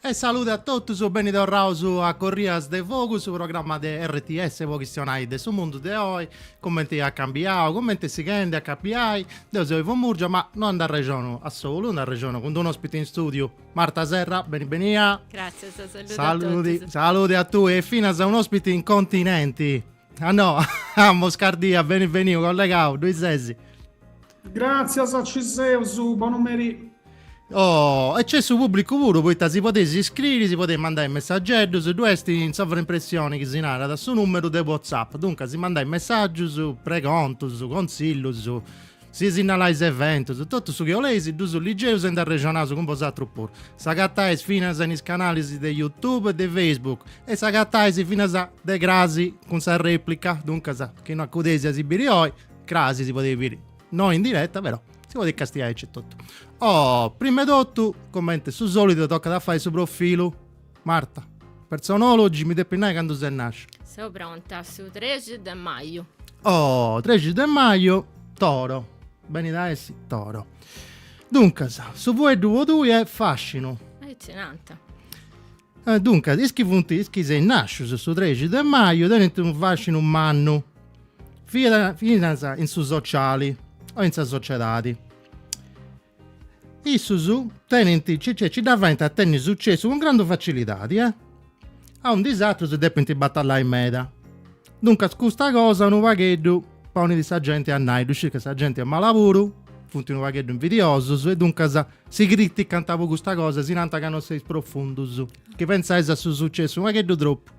E saludi a totus, beni torraus a Corrias de Fogu, su programma de RTS po chistionai de su mundu de oi, cumenti at cambiau, cumenti sighendi a cambiai. Deu seu Ivo Murgia, ma no nd'arrexonu a solu, nd'arrexonu cun d'unu ospiti in studiu, Marta Serra, beni benia. Gràtzias, saludi a totus. Saludi, saludi a tui e finas un'ospiti in continenti. A Noah Moscardi, a, beni beniu, collegau, ddoi sesi? Gràtzias, ci seus, bonu meri. Oh, e c'est su pubblicu puru, poita si podeis iscriri, si podeis mandai messageddus, ddu est in sovraimpressioni aici si narat, su numeru de WhatsApp, duncas si mandais messagius, pregontus, consillus, Si sinnalais eventus, totu su chi 'oleis ddus ligeus e nd'arrexonaus cun bosatrus puru. S'agatais finas in is canalis de Youtube e de Facebook e s'agatais finas de crasi cun sa replica, duncas chi no acudeis a si biri oi, crasi si podeis biri no in diretta però si podeis castiai aici etotu. Oh, prima 'e totu, cumenti su solidu tocat a fai su profilu. Marta. Personologia, mi depis nai candu ses nàscia. Seu pronta, su trexi de maju. Oh, trexi de maju, toro. Benit a essi toro. Duncas, su fueddu po tui est fascinu. Aici nant. Eh, duncas, is chi funt, is chi seis nàscius su trexi de maju tenint unu fascinu mannu, siat finas in su sociali o in sa sociedadi. Issus tenint, cioè cioè nci dda faint a tenni sucessu cun grandu facilidadi, eh! Aundi is atrus depint batallai meda. Duncas custa cosa unu pagheddu ponit sa genti a nai, ddu scius ca sa genti est mala puru, funt unu pagheddu invidiosus e duncas si criticant po custa cosa, si nant ca non seis profundus, chi pensais a su sucessu unu pagheddu tropu.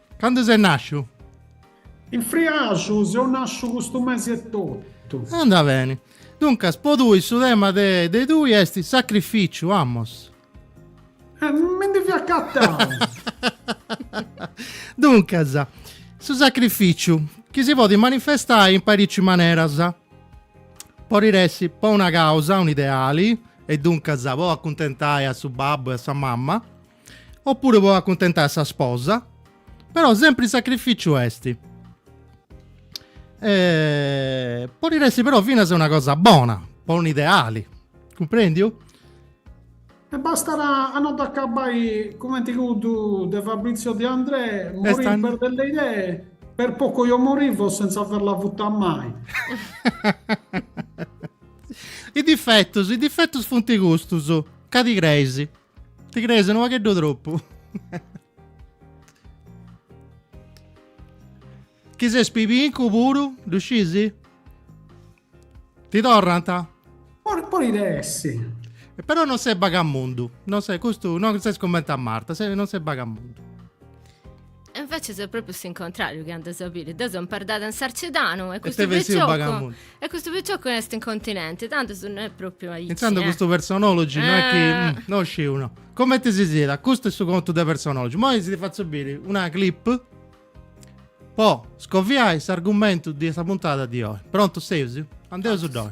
Candu ses nàsciu? In friaxu seu nàsciu custu mesi etotu. Andat beni. Duncas, po tui su tema de de tui est sacrificiu, amos. E mi ndi fia acatau. Duncas, su sacrificiu, chi si podit manifestai in parici maneras, podit essi po una causa, un'ideali, e duncas po acuntentai a su babbu e a sa mama, Oppuru po acuntentai a sa sposa, però sempri sacrificiu est. Eh, podit essi però finas una cosa bona, po un ideali, cumprendiu? E bastat a no dd'acabbai cumenti cuddu de Fabrizio De Andrè, morire per delle idee, per poco io morivo senza averla avuta mai. Is difetus, is difetus funt custus, ca ti creis. Ti crees unu pagheddu tropu. Chi ses pibincu puru, ddu scisi? Ti torrat? Por, porit essi. Però non ses bagamundu, non ses, custu non ses cumenti a Marta, non ses bagamundu. E invece est propriu s'incontrariu chi andas a biri. Deu seu imperdada in Sarcidanu e custu piciocu e custu piciocu est in continenti, tandus no est propriu aici. E tandus eh. custu personology eh. no est chi mm, non sciu no. Comenti si siat, custu est su contu de personology. Moi si fatzu biri una clip po scoviai s'argumentu de sa puntada de oi. Prontus seus? Andeus ddoi.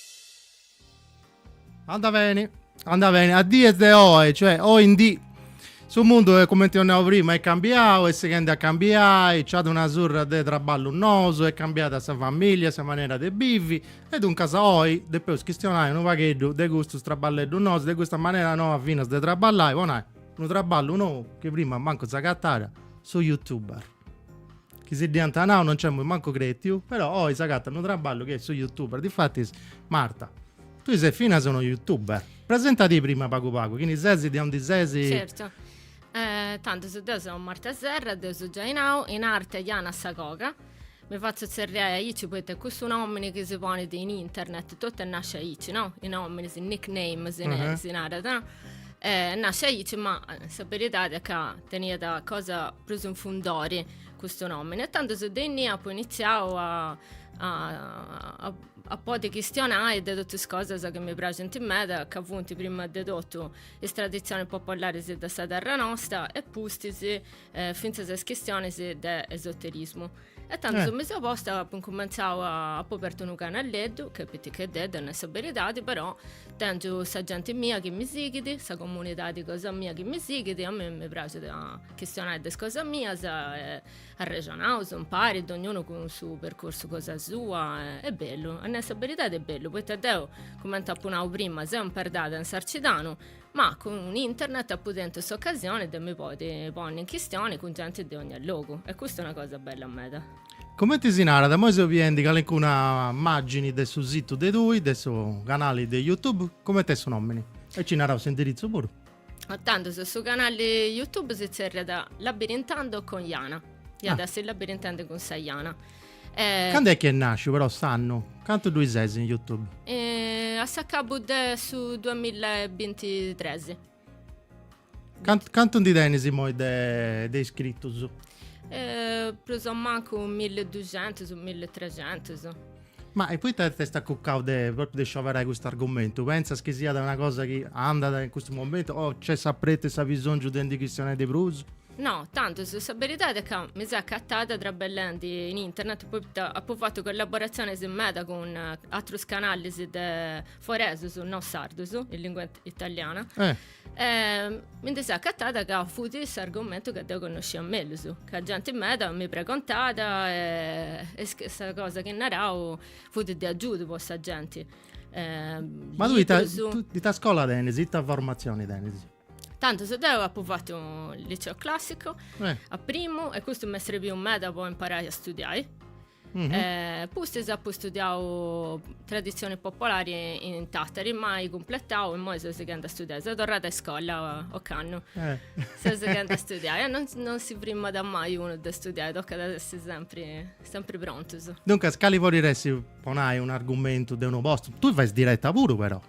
Anda beni, anda beni. A dies de oi, cioè oi in dì, su mundu, eh, cumenti apu nau prima, est cambiau, est sighendi a cambiai, c'at una surra de traballus nous, est cambiada sa familia, sa manera de bivi, e duncas oi depeus chistionai unu pagheddu de custus traballeddus nous, de custa manera noa finas de traballai, po nai, unu traballu nou, chi prima mancu s'agatàt, su youtuber. chi si dd'iant nau no nc'emus mancu cretiu, però oi s'agatat unu traballu chi est su youtuber, difatis Marta tui ses finas una youtuber, presentadì prima pagu pagu, chini ses, de ondi ses? Certu, tantu deu seu Marta Serra, deu seu giai nau, in arte Jana sa Coga, mi fatzu tzerriai aici poita est cussu nomini chi si ponit in internet, totu est nasciu aici no, is nominis, is nickname si narat no, Est nasciu aici, ma sa beridadi est ca teniat cosa prus in fundori custu nomini. E tandus de innì apu iniziau a a, a, a podi chistionai de totu is cosas chi mi praxint meda, ca funt prima de totu is traditzionis popolaris de sa terra nosta e pustis eh, fintzas is chistionis de esoterismu. E tandus eh. mi seu posta apu incumentzau a apu apertu unu canalleddu, chi est piticheddeddu, a nai sa beridadi, però tengiu sa genti mia chi mi sighit, sa comunidadi cosa mia chi mi sighit, a mei mi praxit a chistionai de is cosa mias, e arrexonaus impari, dognunu cun su percursu cosa sua, e, est bellu, a nai sa beridadi est bellu, poita deu, cumenti apu nau prima, seu imperdada in Sarcidanu, ma cun internet apu tentu s'ocasioni de mi podi ponni in chistioni cun genti de ogna logu e custa est una cosa bella meda. Comenti si narat, immoi seu biendi calincuna immagini de su situ de tui, de su canali de youtube, comenti est su nomini? E nci naraus s'indiritzu puru. E tandus, su canali youtube si zerriat Labirintando con Jana, iat a essi Labirintendi cun sa Jana. Eh, Cando est chi est nàsciu però s'annu? Cantu dd'est chi ses in Youtube? eh, a s'acabu de su 2023. Cantu, cantu ndi tenis immoi de, de iscritus? Eh, prus o mancu 1200, 1300. Ma e poita t'est acucau de, propriu de scioberai custu argumentu? Pentzas chi siat una cosa chi andat in custu momentu o nc'est s'apretu e s'abisòngiu de ndi chistionai de prus? No, tantis, sa beridade est ca mi seu acatada trabellendi in internet poita apu fatu collaboratzionis meda cun atrus canalis de foresus no sardus, in lingua italiana. Eh. E mi ndi seu acatada ca fut s'argumentu ca deu connoscia mellus, ca genti meda mi pregontat e e sa cosa chi narau fut de agiudu po sa genti. Ma tui ita, ita scola tenis, ita formatzioni tenis? Tantis deu apu fatu liceo classico eh. a primu e custu m'est serviu meda po imparai a studiai. Mm -hmm. eh, pustis apu studiau tradizioni popolari in Tatari, mai cumpletau e imoi seu sighenda a studiai. Seu torrada a iscola ocannu. Eh. Seu sighenda a studiai. Eh, non, non si frimat mai uno de studiai, tocat a essi sempre, sempre prontus. Duncas, cali podit essi po nai un argumentu de unu post? Tu fais diretta puru però.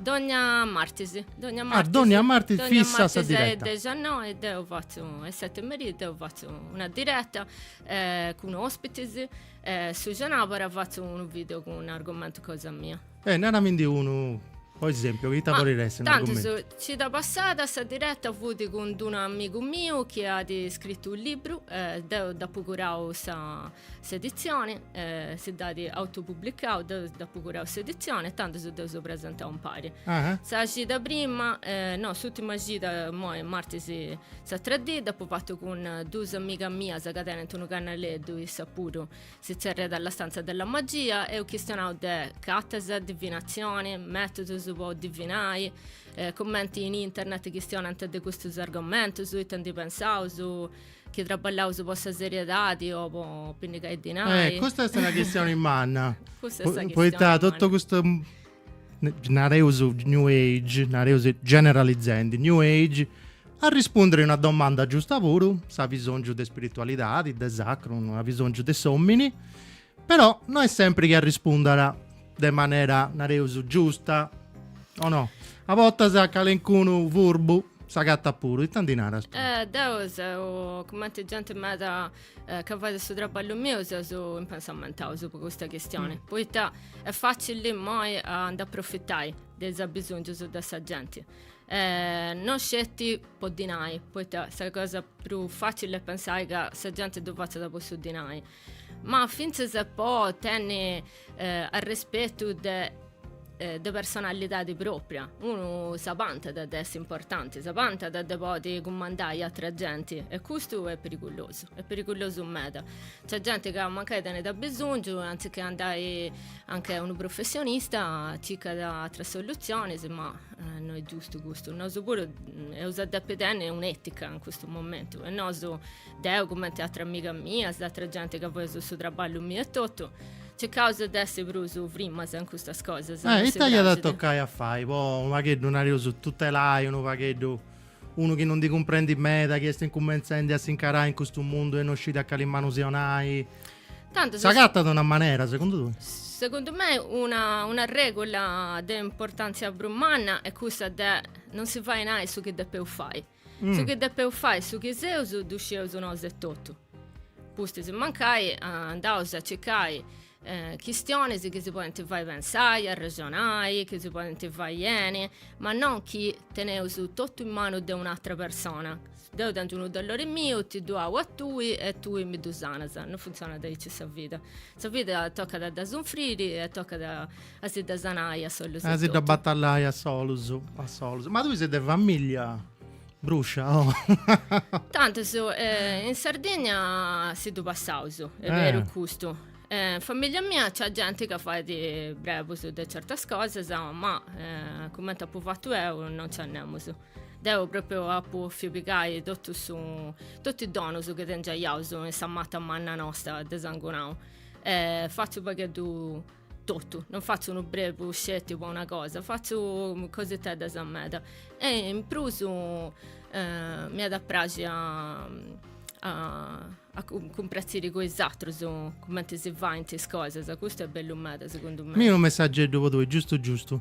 Dònnia martis. Dònnia martis. Ah, dònnia martis fissa sa diretta. Dònnia martis a 19, deu fatzu a 7 merì, deu fatzu una diretta eh, cun ospitis, eh, su cenàbara fatzu unu video cun un argomentu cosa mia. Eh, naramindi unu, po esempiu, chi ita Ma, podit essi tantis, argomentu? cida passada sa diretta fudi cun d'unu amigu miu chi at scritu u' libru, eh, deu dd'apu curau sa S'editzioni, si dd'at autopublicau, deu dd'apu curau s'editzioni e tandus deu seu presentau impari. Sa cida prima, no, s'ùtima cida, imoi martis s'atra dì, dd'apu fatu cun duus amigas mias ca tenint unu canaleddu, issas puru si tzerriat La stanza della magia, eus chistionau de cartas, divinatzioni, mètudus po divinai, cumenti in internet chistionant de custus argomentus, ita ndi pensaus, Chi traballaus po sa seriedadi o po pinnigai dinai? Eh, custa est una chistioni manna. Custa est una chistioni manna. Poita totu custu nareus new age, nareus generalizendi, new age, arrispundit a una domanda giusta puru, s'abisongiu de spiritualidadi, de sacru, unu abisongiu de s'omini, Però no est sempri chi arrispundat de manera, nareus, giusta, o no? A bortas calencunu furbu s'agatat puru, ita ndi naras tui? Deu seu cumenti genti meda ca fait su traballu miu, seus impensamentaus po custa chistioni, poita est facili imoi a nd'aprofitai de is abisongius de sa genti, no sceti po dinai, poita sa cosa prus facili est pensai ca sa genti ddu fatzat po su dinai, Ma fintzas po tenni eh, arrespetu de eh, de personalidadi propria. Unu s'abantat de essi importanti, s'abantat de podi cumandai atra genti e custu è perigulosu, è perigulosu meda. C'at genti ca mancai tenit abisòngiu, anzi che andai anch'e unu professionista, cicat atras soluzionis, ma eh, no è giustu custu. Nosu puru mm, eus a depi tenni un'etica in custu momentu e nosu Deu, cumenti atras amigas mias, atra genti ca faeus su traballu miu e totu, circaus de essi prus frimas in custas cosas. Eh, ita iat a tocai a fai po unu pagheddu, nareus, tutelai unu pagheddu unu chi non ndi cumprendit meda, chi est incumentzendi a s'incarai in custu mundu e non scit a cali manu si 'onai? Tantu sa. S'agatat una manera, segundu tui? Segundu mei una, una regula de importantzia prus manna est cussa de non si fai nai su chi depeus fai. Su chi depeus fai e su chi seus ddu scieus nosu etotu. Pustis mancai andaus a circai eh, chistionis chi si podint fai pensai, arrexonai, chi si podint fai beni, ma non chi teneus totu in manu de un'atra persona. Deu tengiu unu dolori miu, ti ddu au a tui e tui mi ddu sanas. Non funtzionat aici sa vida. Sa vida tocat a dda sunfriri e tocat A si dda sanai a solus. A si dda batallai a solus, a solus. Ma tui ses de famìlia brùscia? Oh. Tantu su, eh, in Sardigna si ddu passaus, est eh. beru custu. In famìlia mia c'at genti ca fait brebus de certas cosas, ma eh, cumenti apu fatu eu non c'at nemus. Deu pròpriu apu bòfiu pigai totu su, totu is donus chi tengiaiaus in sa matta manna nosta de sangunau. Eh, fatzu pagheddu totu, non fatzu unu brebu sceti po una cosa, fatzu coseteddas meda e in prus eh, mi at a praxi a, a, a cumpratziri cun is atrus cumenti si faint is cosas, custu est bellu meda segundu mei. Mi unu messageddu po tui, giustu giustu.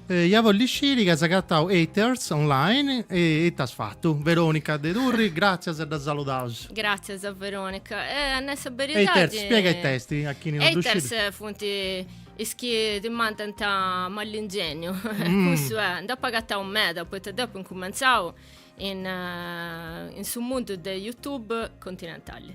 Eh, iat a bolli sciri chi as agatau haters online e it'as fatu. Veronica de Turri, gràtzias e dda saludaus. Gràtzias a Veronica. E a nai sa beridadi... Haters, spiega it'est a chini no ddu scit. Haters funt is chi ti mandant mall'ingegnu. Mm. Cussu è, nd'apu agatau meda, poita deu apu incumentzau in, in su mundu de Youtube continentali.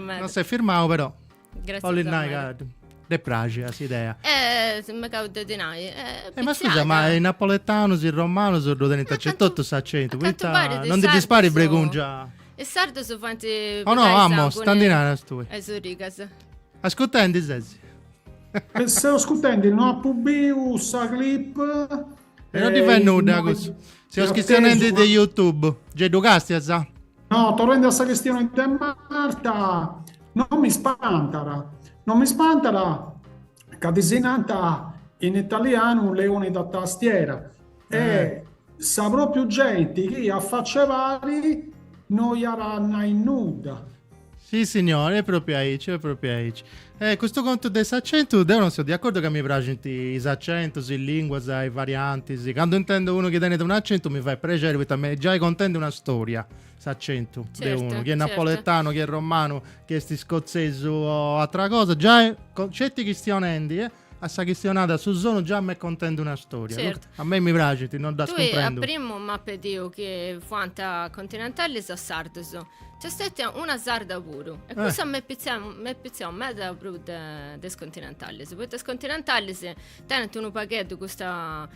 Non s'est firmau però. Gràtzias Bollit nai ca dd'est pràxia s'idea. Eh, si megau de ti nai. Eh, eh ma scusa, ma is napoletanus, is romanus ddu tenint acentu, totu s'acentu, poita non ndi ddis parit bregungia? Is sardus faint Oh no, amo, ita ndi naras tui. Is origas. Ascutendi ses. Seu ascutendi, no apu biu sa clip. E non ndi fait nudda cussu. Seus chistionendi de YouTube. Gei ddu castias? No, torrendi a sa chistioni de Marta, non mi spantara, non mi spantara ca ddis nanta in italianu leoni da tastiera e eh. sa propriu genti chi a faci a pari no iara nai nudda. Si signor, e propriu aici, e propriu aici. E custu contu de s'accentu, deu non seu de accordu ca mi praxint is accentus, is linguas, is variantis. Candu intendu unu chi tenit un accentu mi fait prexeri poita m'est giai contendi una storia s'accentu de unu, Certu, chi est certu. napoletanu, chi est romanu, chi est iscotzesu o atra cosa, giai, sceti chistionendi, a sa chistionada, a su sonu già m'è contende una storia. Certo. A me mi praxit, nou. Tui a primu m'ha pediu chi fuant continentalis o sardus. Nc'est stètia una sarda puru. E eh. cussa m'è pitziau, m'è pitziau meda prus de, de is continentalis. Poita is continentalis tenent unu pagheddu custa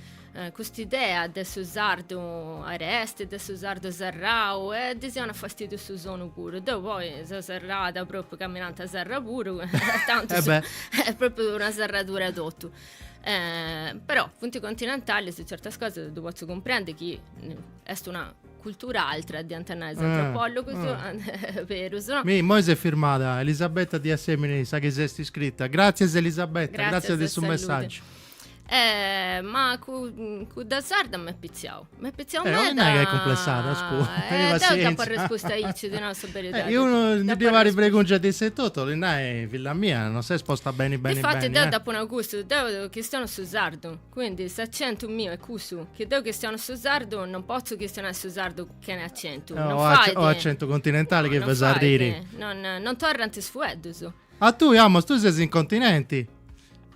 Cust'idea de su sardu aresti, de su sardu serrau, e ddis 'onat fastidiu su sonu puru. Deu poi seu serrada, propriu ca mi nanta serra puru, tantu su, est propriu una serradura totu. però funt continentali su certas cosas ddu potzu cumprendi chi est una cultura altra diant nai is antropologus, berus. Mi, immoi s'est firmada Elisabetta de Assemini sa chi s'at iscritu. Gratzias Elisabetta, gratzias de su messaggiu. Eh, ma cu, cudda sarda m'est pitziau. M'est pitziau meda. Eh, non nai ca est cumplessada, scu. Eh, deu t'apu arrespustu aici, ti nau sa beridadi. Eh, unu, ndi depu fai bregungia de issa totu, 'olit nai, filla mia, non ses posta beni beni beni, eh. Difati deu t'apu nau custu, deu chistionu su sardu, quindi s'accentu miu est cussu, chi deu chistionu su sardu, non potzu chistionai su sardu chene accentu, non fait. O accentu continentali chi fais arriri. Non, non torrant is fueddus. A tui, amos, tui ses in continenti.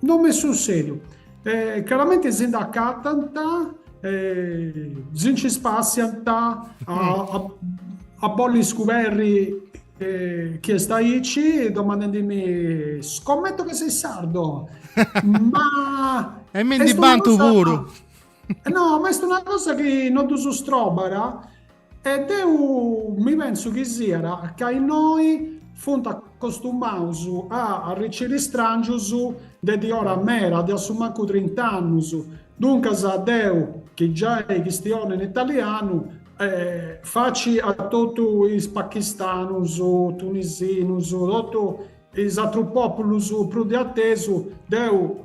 No m'est sussèdiu. Caramente si nd'acatant, si nci spàssiant a bolli scuberri chi est aici, domandendimi, scommeto che sei sardo! Ma... E mi ndi bantu puru! No, ma est una cosa chi no ddu sustróbara. E deu mi pensu chi siat ca innoi funt acostumaus a arriciri istràngius de diora mera, de assumancu trint'annus. Duncas deu, chi giai chistiono in italianu, faci a totu is pachistanus, tunisinus, totu is atrus pòpulus prus de atesu, deu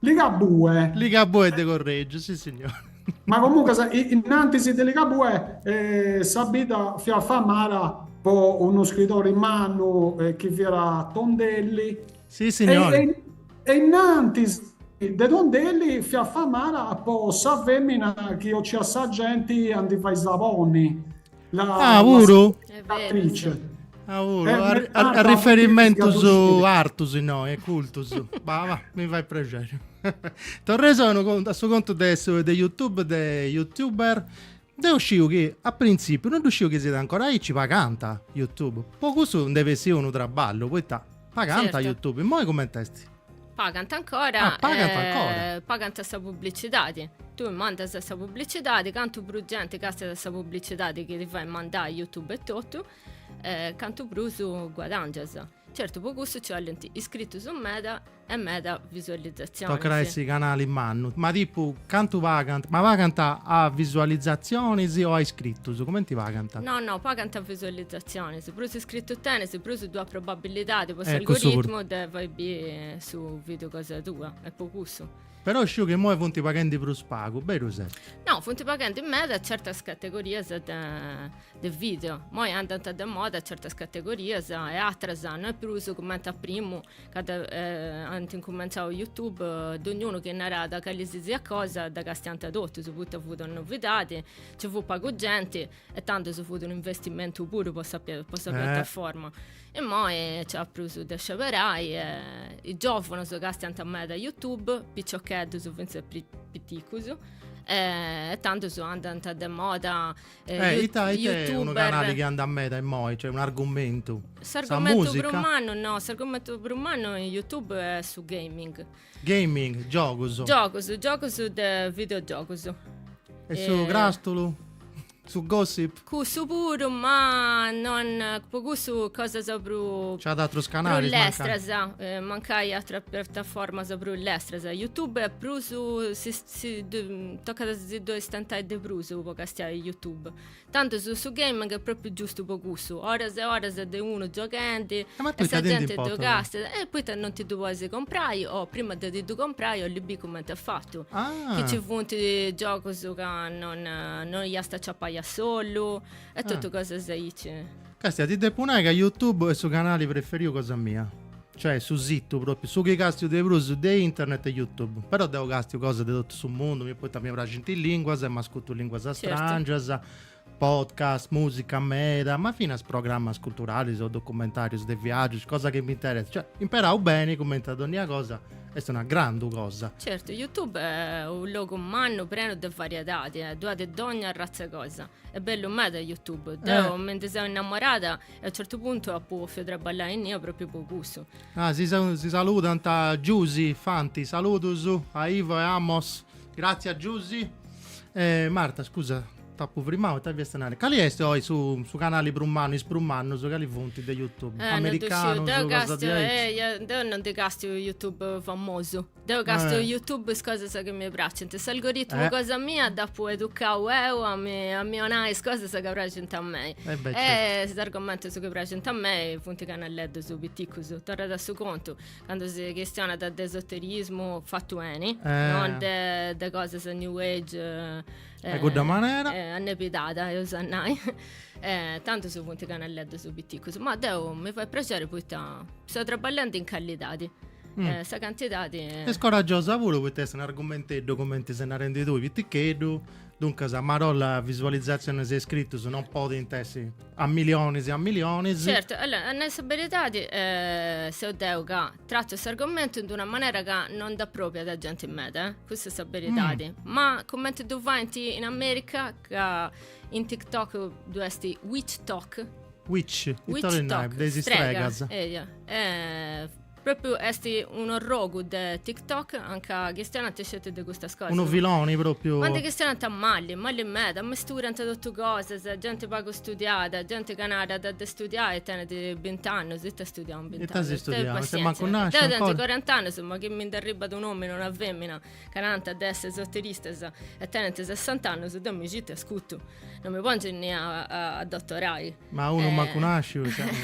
Ligabue. Ligabue de Corregiu, si signore. Ma comunque, innantis de Ligabue, eh, sa bidda fiat famada po unu scridori mannu eh, chi fiat Tondelli. Si, signore. E, e, e innantis de Tondelli fiat famada po sa femmina chi ociat sa genti a ndi fai saponi. Ah, puru? Attrice. Ah, puru. Eh, a, a, a riferimentus artus innoi, e cultus. bah, bah, mi fai prexeri. Torreus a su contu de, su, de YouTube, de YouTuber. Deu sciu chi a prinzipiu non ddu sciu chi siat ancora aici paganta YouTube. Po cussu nd'est bessiu unu traballu, poita paganta certo. YouTube. Moi coment'est? pagant ancora ah, pagant, eh, ancora. pagant sa publicidadi tui mandas sa publicidade cantu prus genti castiat sa publicidadi chi ti fai mandai youtube e totu eh, cantu prus guadangias certu po cussu ci 'olint iscritus meda e meda visualizzazionis tocat a essi canali mannu ma tipu cantu pagant ma pagant a visualizzazionis o a iscritus comenti pagant no no pagant a visualizzazionis Prus iscritus tenis, prus ddu at probabilidadi po s'algoritmu de fai biri su video cosa tua, est po cussu. Però sciu chi imoi funt paghendi prus pagu, berus est? No, funt paghendi meda certas categorias de video, imoi andant de moda certas categorias e atras no est prus cumenti a primu candu ant incumentzau youtube, donniunu chi narat calisisiat cosa dda castiant totus, poita fut una novidadi, nci fut pagu genti e tandus fut unu investimentu puru po sa po sa piattaforma immoi nc'at prus de sceberai e is giòvunus castiant meda youtube piciocheddus fintzas prus piticus e tandus andant de moda e ita ita est unu canali chi andat meda immoi cioè un'argumentu sa musica? S'argumentu prus mannu no s'argumentu prus mannu in youtube est su gaming Gaming, giogus. Giogus, giogus de videogiogus. E su eh, crastulu? Su gossip? Cussu puru, ma non po cussu cosas prus C'at atrus canalis? Prus lestras, mancai, eh, mancai atras piattaformas prus lestras. YouTube est prus si, si, tocat si ddoi stentai de prus po castiai YouTube. Tandus su gaming est propriu giustu po cussu, oras e oras de unu gioghendi e sa genti ddu castiat. E poita non ti ddu podis comprai o prima de ti ddu comprai 'olis bì cumenti est fatu, chi nci funt giogus ca non non iast aciapai a solu e totu cosas aici. Castia, ti depu nai ca YouTube est su canali preferiu cosa mia. Cioè su situ propriu, su chi castiu de prus de internet est youtube, però deu castiu cosas de totu su mundu, mi poita mi praxint is linguas e m'ascutu linguas astrangias, podcast, musica meda, ma finas programas culturalis o documentarius de viagius, cosa chi m'interessat, cioè imperau beni cumenti a donnia cosa est una grandu cosa. Certu, youtube est unu logu mannu prenu de variedadi, ddu at de dogna arratz'e cosa, est bellu meda youtube, deu mi ndi seu innamorada E a un certu puntu apu ofiu trabballai innia propriu po cussu. Ah, si, si saludant Giusi Fanti, saludus a Ivo e Amos. Grazie a Giusi. E Marta, scusa, t'apu frimau, ita fiasta nai? Cali est oi su, su canali prus mannu, is prus mannus cali funt de Youtube? Eh, non ddu sciu, deu castiu, eh, ia, deu non ndi castiu youtuber famosus. Deu castu eh. YouTube is cosas chi mi pracint. S'algoritmu eh. cosa mia dd'apu educau eu a mi, a mi onai is cosas chi pracint a mei. Eh e beh, certo. is argomentus chi pracint a mei funt canelleddus piticus. Torrat a su contu, candu si chistionat de esoterismu fatu 'eni, eh. non de, de cosas new age. Eh, e cudda manera? Eh, annepidada, eus a nai. eh, tanto funt canelleddus piticus. Ma deu mi fait prexeri poita seu traballendi in callidadi. Eh, sa cantidadi... Eh. Est coragiosa puru poita est un'argumenteddu, comenti ses narendi tui, piticheddu, duncas a marolla visualizzatzionis e iscritus non podint essi a milionis e a milionis. Certu, allora, a nai sa beridadi, eh, seu deu ca trattu s'argumentu in d'una manera ca no nd'aprobiat genti meda, eh? Custa est sa beridadi. Mm. Ma comenti ddu faint in America, ca in TikTok ddu est witch talk, Witch, Witch Talk, de is stregas. Eia. Eh, Propriu est un'orrogu de TikTok anca chistionant sceti de custas cosas. Unu filoni propriu. Ma ndi chistionant malli, malli meda, amesturant totu cosas, genti pagu studiada, genti ca narat de studiai e tenit bint'annus, ita studiau in bint'annus. Ita as studiau, ses mancu nasciu ancora. Deu tengiu corant'annus ma chi mi nd'arribat un'omini o una femina ca nant de essi esoteristas e tenent sessant'annus, deu mi citu e ascurtu, non mi pongiu inni a, a, a dottorai. Ma unu eh, mancu nasciu.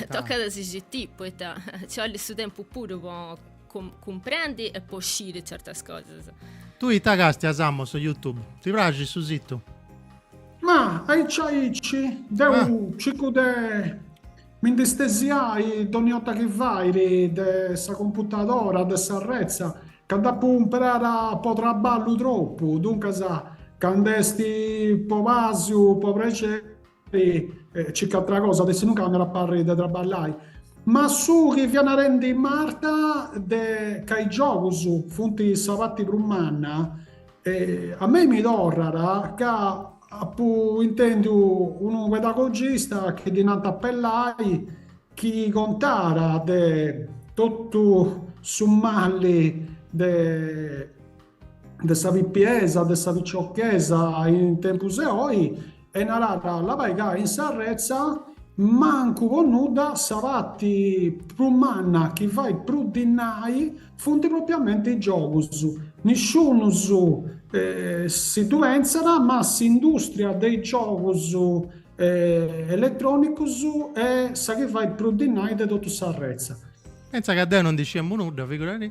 Toccat a si citiri, poita ci 'ollit su tempus puru po com- cumprendi e po sciri certas cosas. Tui ita càstias, Amos, in youtube? Ti praxit su sìtiu? Ma aici aici deu ah. cicu de Mi ndi stesiai dònnia 'orta chi fait, de sa computadora, de sa retza, ca dd'apu imperada po traballu tropu, duncas, candu est po pàsiu, po prexeri, circu atra cosa, de si nunca m'at a parri de traballai. Ma su chi fia narendi Marta de ca is giogus funt sa parti prus manna, A mei mi torrat ca apu intendiu unu pedagogista chi ddi nant Pellai chi contat de totu su mali de de sa pipiesa, de sa piciochesa in tempus 'e oi E naràt, La bai ca in sa retza, mancu po nudda, sa parti prus manna chi fait prus dinai funt propriamenti is giogus. Nisciunus si ddu pentzat, ma s'industria de is giogus eletrònicus est sa chi fait prus dinai de totu sa retza. Pentza ca deu no ndi sciemu nudda, figuradì!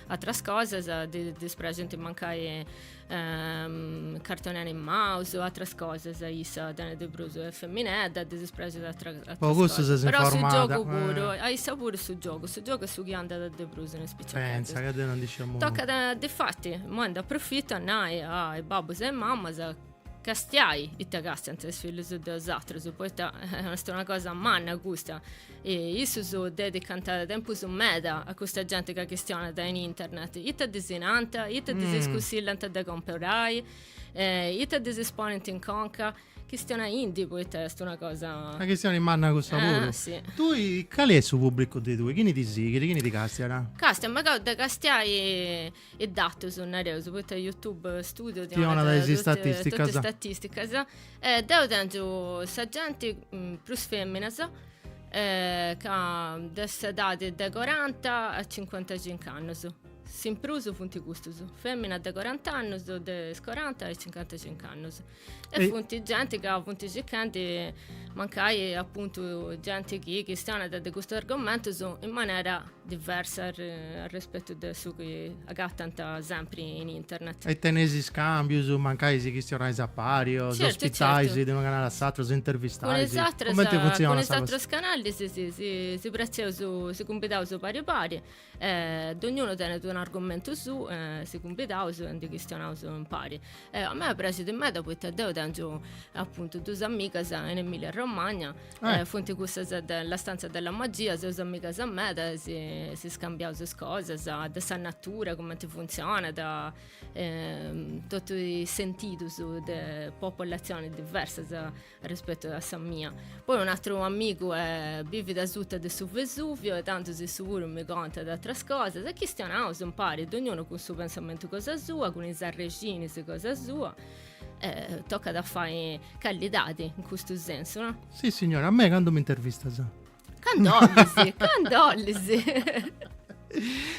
Atras cosas, ddis praxint mancai cartoni animaus, atras cosas, issa tenit de prus, est feminedda, ddis praxit atras cosas. Po custu ses informada. Però su giogu puru, a issa puru su giogu, su giogu est su chi andat de prus in is piciocheddus. Pentza, ca deu non ndi sciu nudda. Tocat, difati, imoi nd'aprofitu a nai a is babbus e mamas, castiai ita castiant is fillus de bosatrus, poita est una cosa manna custa, e issus dedicant tempus meda a custa genti ca chistionat in internet, ita ddis nant, ita ddis cussillant de comporai, ita ddis ponint in conca, chistionai·ndi poita est una cosa. Una chistioni manna cussa puru. Si. Tui cali est su pubblicu de tui, chini ti sighit, chini ti castiat? Castiant, m'acabu de castiai is datus nareus poita youtube studio ti donat totu is statisticas e deu tengiu sa genti prus feminas de s'edadi de coranta a cincuantacincu annus s'imprus funt custus feminas de corant'annus de is coranta a is cincuantacincu annus E, e funt genti ca funt circandi mancai appuntu genti chi chistionat de custus argumentus in manera diversa a, a rispetu de su chi agatant sempri in internet. E teneis iscambius, mancai si chistionais a pari o certo, s'ospitais de unu canale a s'atru, s'intervistais? Cun is atrus canales si, si, si praxeus, si cumbidaus pari pari E dognunu tenet un'argumentu suu e si cumbidaus e ndi chistionaus impari. E a mei praxit meda poita deu tengiu apuntu duas amigas in Emilia Romagna e funt cussas de La stanza della magia, seus amigas meda e si si scambiaus is cosas de sa natura, cumenti funtzionat e totu is sentidus de popolatzionis diversas rispettu a sa mia. Poi un atru amigu bivit a suta de su Vesuvio e intandus issu puru mi contat atras cosas e chistionaus impari, dognunu cun su pensamentu cosa sua, cun is arrexinis cosa sua e tocat a fai callidadi in custu sensu, no? Sissignore, a mei candu m'intervistas? Candu bolis, candu bolis.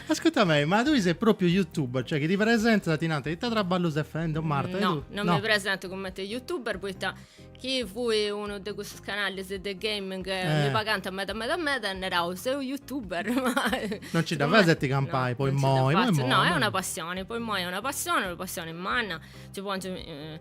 Ascurta mei, ma tui sei propriu youtuber, cioè chi ti presentas e ti nant, ita traballu ses fendi Marta? No, non mi presentu cumenti youtuber poita chi fuit unu de cussus canalis de gaming eh. mi eh. pagant meda meda meda emu a nai seu youtuber ma non ci dda fais a ti campai no, poi moi, moi, moi no è una passione po imoi è una passione una passione manna ci pongiu eh,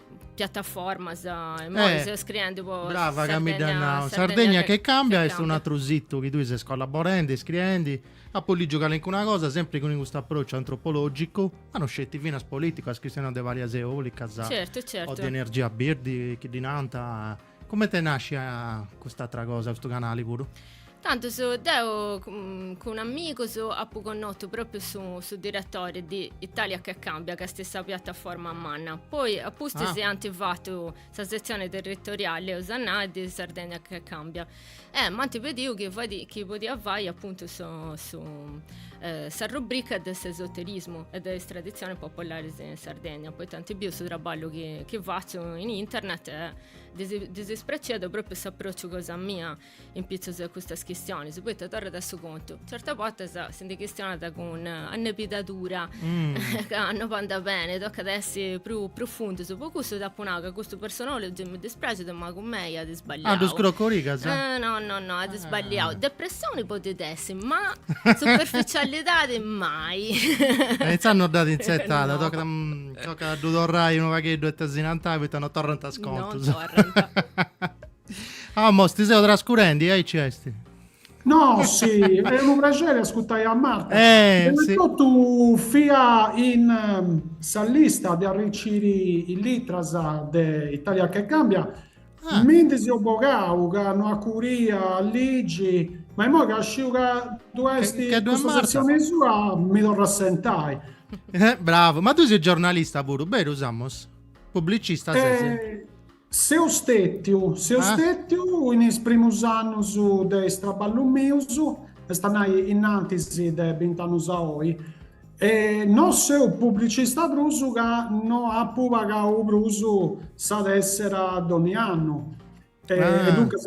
piattaformas imoi eh, seus scriendi po brava ca mi dd'as nau Sardegna che cambia est un atru situ chi ddui ses collaborendi e scriendi apu ligiu calincuna cosa sempri cun custu approciu antropologicu ma no sceti finas politicu as chistionau de palas eolicas certu, certu. o de energia birdi chi ddi nanta Comente nascia cust'atra cosa, custu canali puru? Tantus deu cun amigus apu connotu propriu su, su diretori di Italia che cambia, ca est sa piataforma manna. Poi a pustis Ah. ant fatu sa setzioni territoriali, eus a nai, di Sardegna che cambia. E m'ant pediu chi fadi, chi podia fai apuntu su, su sa rubrica de s'esoterismu e de is traditzionis popularis in Sardegna, poita ant biu su traballu chi chi fatzu in internet e ddis ddis praxiat propriu s'aprociu cosa mia in pitzus a custas chistionis, poita torrat a su contu, Certas bortas si ndi chistionat cun annebidadura, mm. ca no andat beni, tocat a essi prus profundus. Po cussu t'apu nau ca custu Personology mi dispraxit, ma cun mei at sballiau. Ah, ddu scrocorigas? Eh, no, no, no, at ah. sballiau. Ah. Depressioni podit essi, ma superficialidadi mai. e eh, intzà no dd'at intzertada, no. tocat, a, mm, tocat a ddu torrai unu pagheddu e tesinantai, poita no torrant is contus. No torrant. Amos, ti seu trascurendi, aici esti. Nossi, e' unu prexeri ascuttai a Marta. Eh, Prima 'e si. tottu fia in sa lista de arriciri is litras de Italia che cambia, Ah. mi ndi seu bogau ca no acuria a ligi, ma immoi ca sciu ca ddu Che- esti che ddu est custa Marta. setzioni sua mi torru a assentai. Eh, bravu. Ma tui ses giornalista puru, berus Amos? Pubblicista ses? Eh, Seu stètiu, seu stètiu in is primus annus de is traballus mius, est a nai in antis de bint'annus a oi, e no seu publicista prus ca no apu pagau prus sa tessera donni annu, e duncas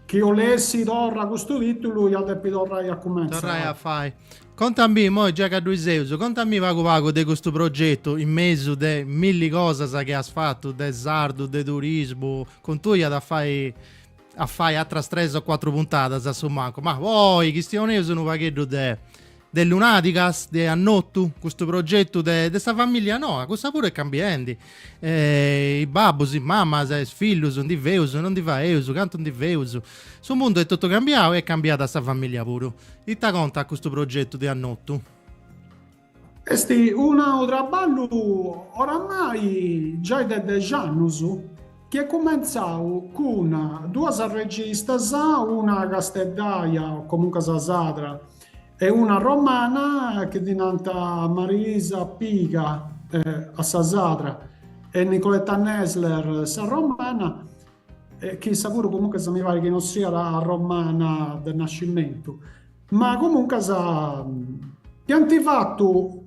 chi 'olessi torra custu titulu ia a depi torrai a cumentzai. Contamì, imoi già ca ddui seus, contamì pagu pagu de custu progetu in mesu de milli cosas chi as fatu, de sardu, de turismu, cun tui iat a fai a fai atras tres o cuatru puntadas a su mancu, ma po oi chistioneus unu pagheddu de de Lunàdigas, de Annotu, custu progetu de de sa familia noa, cussa puru est cambiendi eh, is babbus, is mamas, is fillus, ndi feus, no ndi faeus, cantu ndi feus. Su mundu est totu cambiau e est cambiada sa famìllia puru. Ita contat custu progetu de Annotu? Est unu traballu oramai giai de dexi annus chi est cumentzau cun duas registas, una casteddaia o comuncas sadra E una romana chi ddi nant Marilisa Piga sa sadra e Nicoletta Nesler sa romana, chi issa puru comuncas mi parit chi non siat romana de nascimentu, ma comuncas iant fatu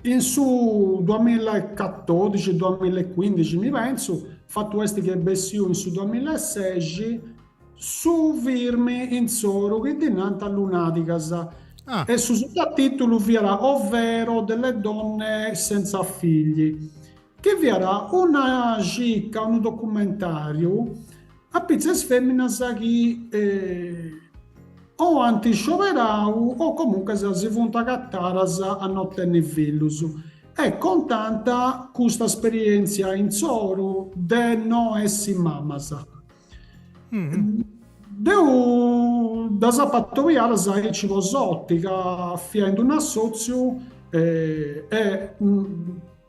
In su duamilla e catòdixi, duamilla e cuindixi, mi pensu, fatu est chi est bessiu in su duamilla e sexi, su firmu insoru chi ddi nant Lunàdigas, e su sutatìtulu fiat Ovvero delle donne senza figli, chi fiat una circa, unu documentàriu, A pitzus 'e fèminas chi o ant scioberau o comunques si funt agatadas a no tenni fillus e contant custa esperièntzia insoru de no essi mamas. Deu ddas apu atobiadas aici po s'òtica, fia in dd'un'assòtziu e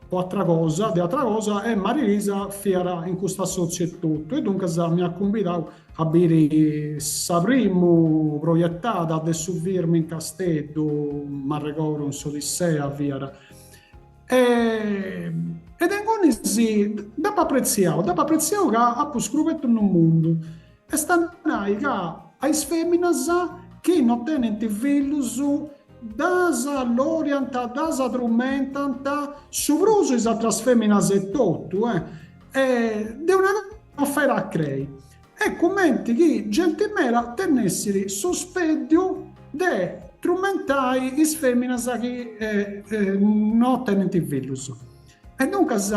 po atra cosa, de atra cosa e Marilisa fiat in custu assòtziu etotu e duncas m'iat cumbidau a biri sa primu projetada de su firmu in Casteddu, m'arregodu in s'Odissea fiat e e de ingunis dd'apu apretziau, dd'apu apretziau ca apu scrubetu unu mundu Est a nai ca a is fèminas chi no tenint fillus ddas loriant, ddas trumentant, su prus is atras fèminas etotu, est una cosa 'e no crei, est cumenti chi genti meda tenessit suspeddiu de trumentai is fèminas chi no tenint fillus. E duncas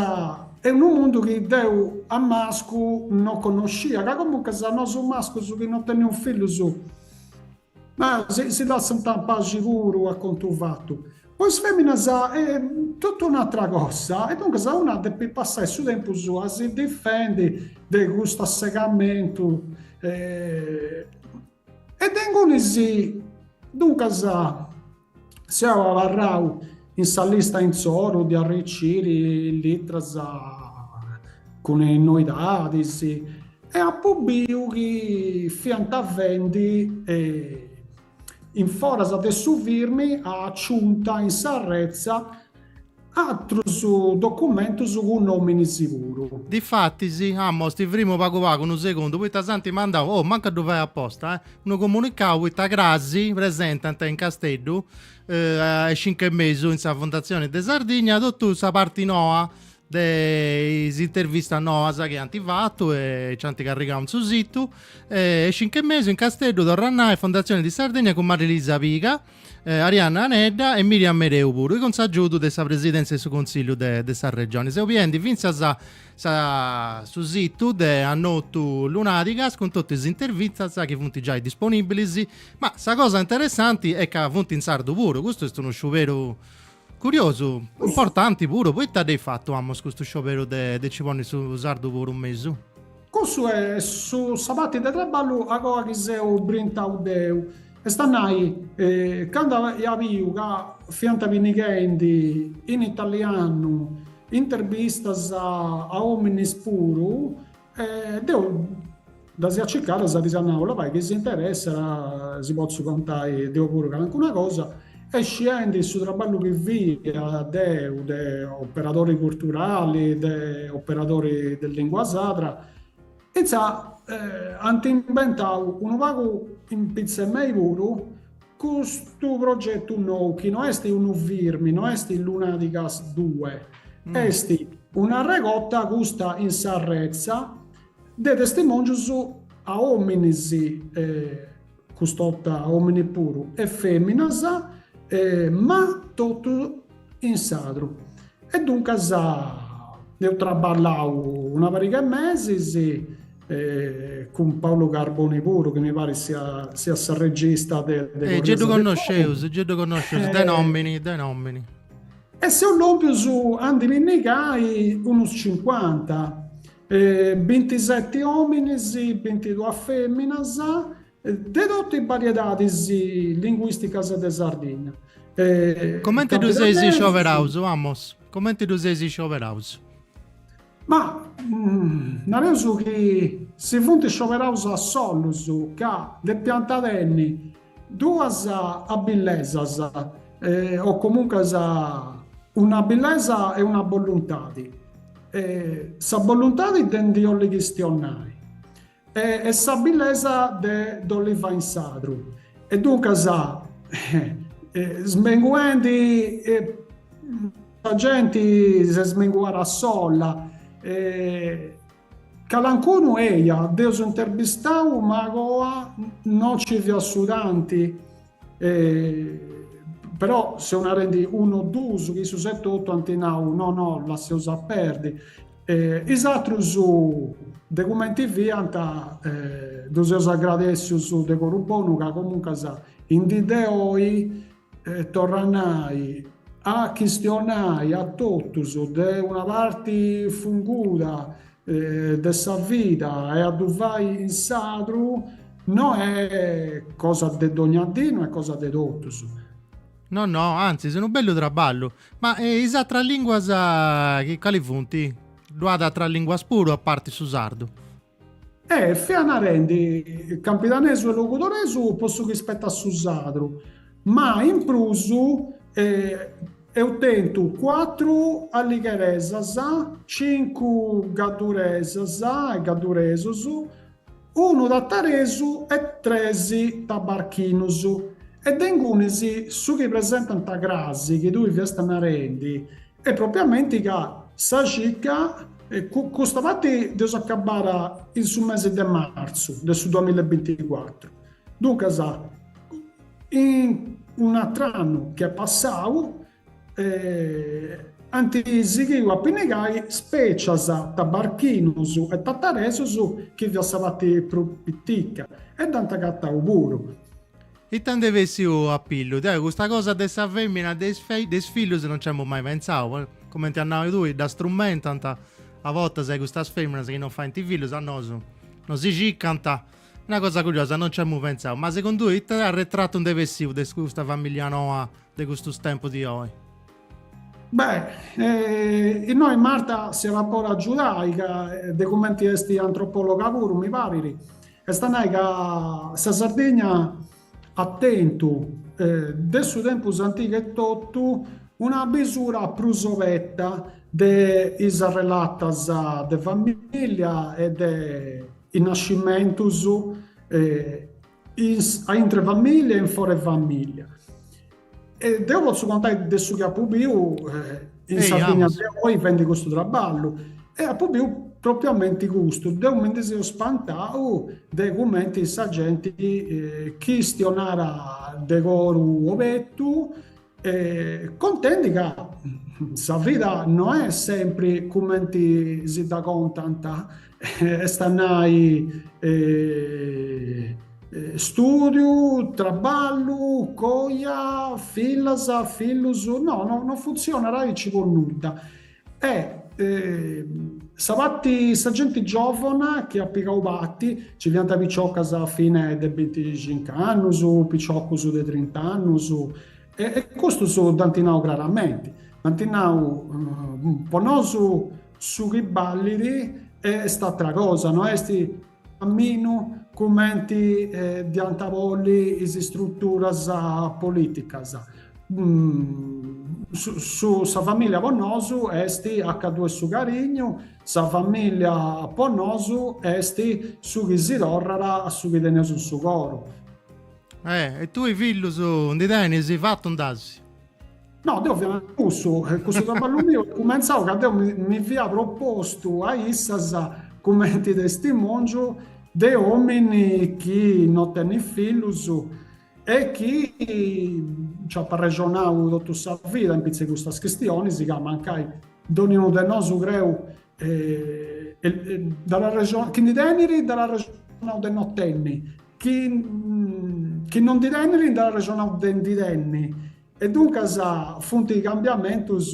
est unu mundu chi deu a mascu no connoscia, ca comuncas nosu is mascus chi no teneus fillus naus si lassant in paxi puru a contu fatu. Po is feminas est totu un'atra cosa e duncas una depit passai su tempus a si difendi de custu assegamentu e de ingunis duncas Seu abarrau in sa lista insoru de arriciri is litras cun is noidadis e apu biu chi fiant faendi in foras de su firmu a aciunta in s'arretza Atrus documentus cun nomini siguru. Difatis imoi ti firmu pagu pagu unu segundu poita s'ant mandau, oh mancu a ddu fai aposta, unu comunicau poita crasi presentant in Casteddu a is cincu e mesu in sa Fondatzioni de Sardigna totu sa parti noa de is intervistas noas chi ant fatu e nci ant carrigau in su situ. A is cincu e mesu in Casteddu, torra a nai, Fondazione di Sardegna cun Marilisa Piga. Arianna Anedda e Miriam Mereu puru, cun s'agiudu de sa presidèntzia de su Consillu de, de sa Regioni, seu biendi fintzas sa, su situ de Annotu Lunàdigas cun totu is intervistas chi funt giai disponìbilis, ma sa cosa interessanti est ca funt in sardu puru, custu est unu sciuberu Curiosu, importanti puru, poita dd'eis fatu Amos custu scioberu de nci ponni su sardu puru in mesu? Cussu est sa parti de traballu agoa chi seu brintau deu, est a nai, candu aia biu ca fiant pinnighendi in italianu intervistas a ominis puru, E deu ddas ia cicadas ddis ia nau, Labai chi si interessat si potzu contai deu puru calincuna cosa. E scendi su traballu chi fia deu de operadori culturali, de operadori de lingua sadra, intzà ant imbentau unu pagu in pitza 'e mei puru Custu progetu nou, chi no est unu firmi, no est Lunàdigas due, est un'arregota custa in sa retza de testimòngius de òminis, cust'orta òmini puru, e fèminas, ma totus, in sardu e duncas eus traballau una pariga 'e mesis cun Paolo Carboni puru chi mi parit siat s'arregista de Corrias de Giddu connosceus, Giddu connosceus, de nomini, de nomini. E seus lompius a ndi pinnigai unus cincuanta, bintiseti ominis, bintiduas feminas De totu is bariedadis linguìsticas de Sardinna. Comente ddu seis iscioberaus, Amos? Comente ddu seis iscioberaus? Ma, nareus chi si funt iscioberaus a solus, ca depiant tenni duas abillesas, o comuncas un'abillesa e una boluntadi. Sa boluntadi de ndi 'olli chistionai. E s'abillesa de dd'olli fai in sadru. E duncas, smenguendi, sa genti s'est smenguada sola. Calancunu eia, dd'eus interbistau ma agoa no nci fiat su tanti, però seu narendi unu o duus chi issus etotu ant nau, no no lasseus a perdi. E is aterus de cumenti fiant ddus eus agradèssius de coru bonu ca comuncas in dì de oi, torra a nai, a chistionai a totus de una parti funguda de sa vida e a ddu fai in sardu no est cosa de dogna dì, no est cosa de totus. No no, antzis, unu bellu traballu. Ma e is atras lìnguas chi cali funt? Ddu at atras lìnguas puru a parti su sardu? Fia narendi, campidanesu e logudoresu po su chi spetat su sardu, ma in prus eus tentu cuatru alligheresas, cincu gadduresas e gadduresus, unu tataresu e tres tabarchinus, e de ingunis su chi presentant crasi chi tui fiast narendi est propiamenti ca sa circa, custa parti dd'eus acabada in su mesi de martzu de su duamilla e binticuatru, duncas in un'atr'annu chi est passau, E ant sighiu a pinnigai spècia, tabarchinus e tataresus chi fiat sa parti prus pitica e dd'ant agatau puru. Ita nd'est bessiu a pillu? Deu custa cosa de sa fèmina de de is fillus non nci apu mai pentzau, po cumenti as nau tui, dda strumentalizant a bortas e custas fèminas chi non faint fillus a nosu nos si cicant. Una cosa curiosa, non nci amu pentzau. Ma segundu ita arretratu nd'est bessiu de custa familia noa? de custus tempus di oi? Beh, innoi Marta si iat a podi agiudai, ca de cumenti est antropòloga puru, mi parit, est a nai ca sa Sardigna at tentu, de su tempus antiga etotu, una bisura prus obeta de is arrelatas de famìllia e de is nascimentus a intre famìlia e in fora 'e famìlia. E deu potzu contai de su chi apu biu in Sardigna de oi fendi custu traballu e apu biu propriamenti custu, deu mi ndi seu spantau de cumenti sa genti chistionàt de coru obertu E contendi ca sa vida no est sempri cumenti si dda contant, est a nai stùdiu, traballu, coja, fillas, fillus, no, no funtzionat aici po nudda. E sa pati, sa genti giòvona chi at pigau pati, nci fiant piciocas fines de binticincu annus, piciocus de trint'annus, e custus dd'ant nau craramenti, dd'ant nau, po nosu su chi ballit est atra cosa, no est caminu cumenti dd'iant bolli is istruturas politicas. Sa familia po nosu est acantu est su carignu, sa familia po nosu est su chi si torrat a su chi teneus in su coru. E tui fillus ndi tenis? Fatu nd'asi. No, deu fia nau cussu, cussu traballu miu est cumentzau ca deu mi fia propostu a issas cumenti testimòngiu de omini chi no tenit fillus e chi nc'at arrexonau totu sa vida in pitzu 'e custas chistionis ca mancai dònniunu de nosu creu chi ndi tenit, dd'at arrexonau de no tenni Chi chi no ndi tenit nd'at arrexonau de ndi tenni e duncas funt cambiamentus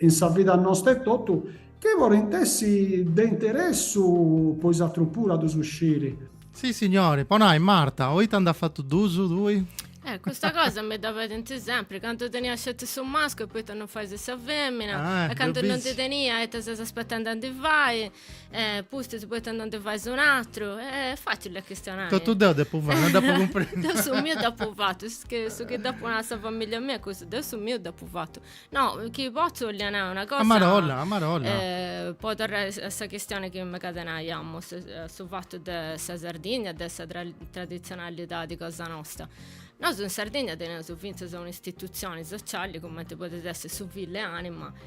in sa vida nosta etotu chi podint essi de interessu po is atrus puru a ddus sciri. Sissignori, po nai, Marta, o ita nd'at fatu ddus tui? E custa cosa mi dda pedint sempri, candu tenia sceti su mascu e poita no fais sa femina, e candu no ndi tenia ita ses aspetendi a ndi fai, eh, pustis poi tanto non ti fai su natru, eh, facile a questionare. Tutto deo depo fare, non depo comprendere. deo su mio depo fatto, che su che depo nare sa famiglia mia, questo deo su mio depo fatto. No, chi pozzo voglio nare una cosa... Amarola, amarola. Eh, poi tornare a sa questione che mi catenaiamo, su, eh, su fatto de sa Sardigna, de sa tra tradizionalità di cosa nostra. Noi in Sardegna teniamo finza un'istituzione sociale come potete essere su Ville Anima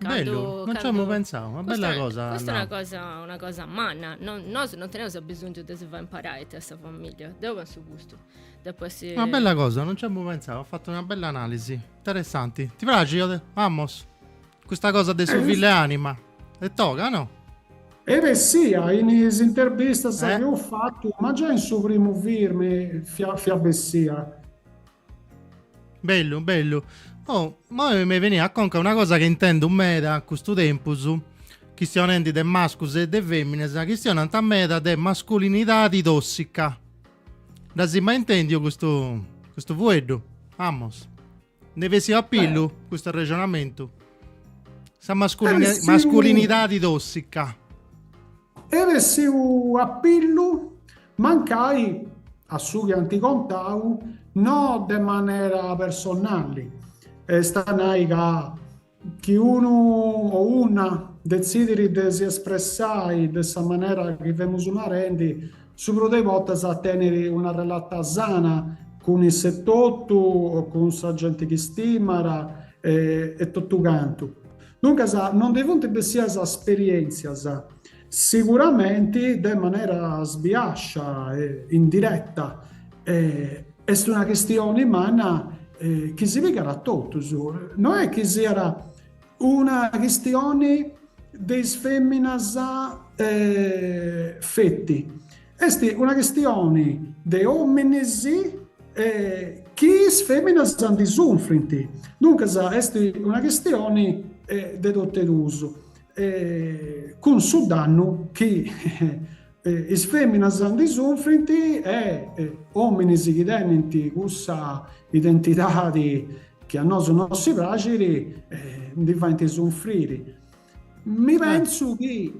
Bellu, non ci emu pentzau, una bella cosa. Custa una cosa, una cosa manna, no, nosu non teneus abisongiu de si fai imparai a sa familia, deu pensu custu. Depu essi. Una bella cosa, non ci emu pentzau, as fatu una bella analisi, interessanti. Ti praxit? Amos? Custa cosa de su fill'e ànima, est toga, no? Eh, est bessia in is interbistas chi eus fatu, ma giai in su primu firmi, fiat, fiat bessia. Bellu, bellu. Oh, ma mi veniat a conca una cosa chi intendu meda a custu tempus, chistionendi de mascus e de feminas, chistionant meda de masculinidadi tossica. Dd'as mai intendiu custu custu fueddu? Amus. Nd'est bessiu a pillu eh. custu arrexonamentu? Sa masculini- eh, masculinidadi tossica. Est bessiu a pillu Mancai, a su chi ant contau, no de manera personali, est a nai ca chi unu o una detzidit de si espressai de sa manera chi femus narendi, su prus de is bortas tenit una relata sana cun issu etotu o cun sa genti chi stimat e totu cantu. Duncas, no ndi funt bessias sperièntzias. Siguramenti de manera sbiascia e indireta, est una chistioni manna chi si pigat a totus, no est chi siat una chistioni de is feminas feti, est una chistioni de ominis chi is feminas ndi sunfrint, duncas est una chistioni de totu e duus. e cun su dannu chi is fèminas ndi sunfrint e òminis chi tenint cussa identidadi chi a nosu no si praxit ndi faint sunfriri. Mi pensu chi,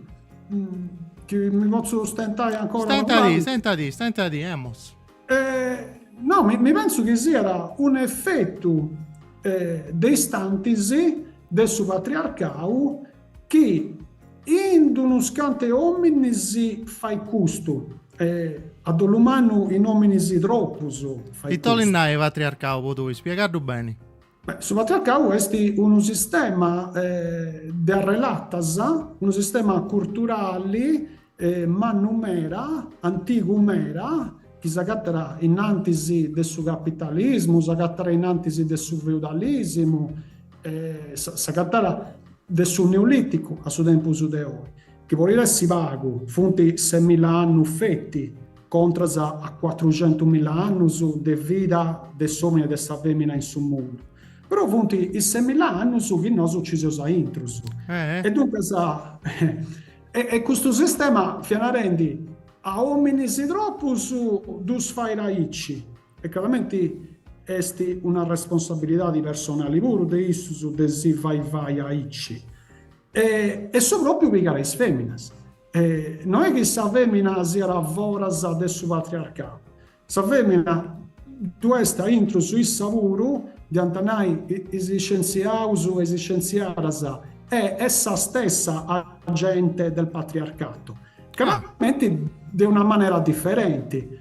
chi mi potzu stentai ancora unu pagu? Stentadi, stentadi, stentadi, Amos. No, mi pensu chi siat un'efetu de istantis de su patriarcau chi in d'unus cantu ominis fait custu, a dolu mannu in ominis tropus fait custu. Ita 'olit nai patriarcau po tui? Spiegaddu beni. Beh, su patriarcau est unu sistema de arrelatas, unu sistema curturali mannu meda, antigu meda, chi s'agatat innantis de su capitalismu, s'agatat innantis de su feudalisimu, s'agatat de su neoliticu a su tempus de oi, chi podit essi pagu, funt ses milla annus feti Contras a cuatruxentu milla annus de vida de s'omine e de sa femina in su mundu. Però funt is ses milla annus chi nosu ci seus aintru. E duncas est custu sistema fiat narendi a ominis tropus ddus fait aici. E craramenti est una responsabilidadi personali puru de issus de si fai fai aici. E su propriu pigat a is feminas. E no est chi sa fèmina siat a foras de su patriarcau. Sa fèmina ddui est a intru issa puru, diant nai is iscientziaus e is iscientziadas, est essa stessa agente del patriarcato, craramenti de una manera diferenti.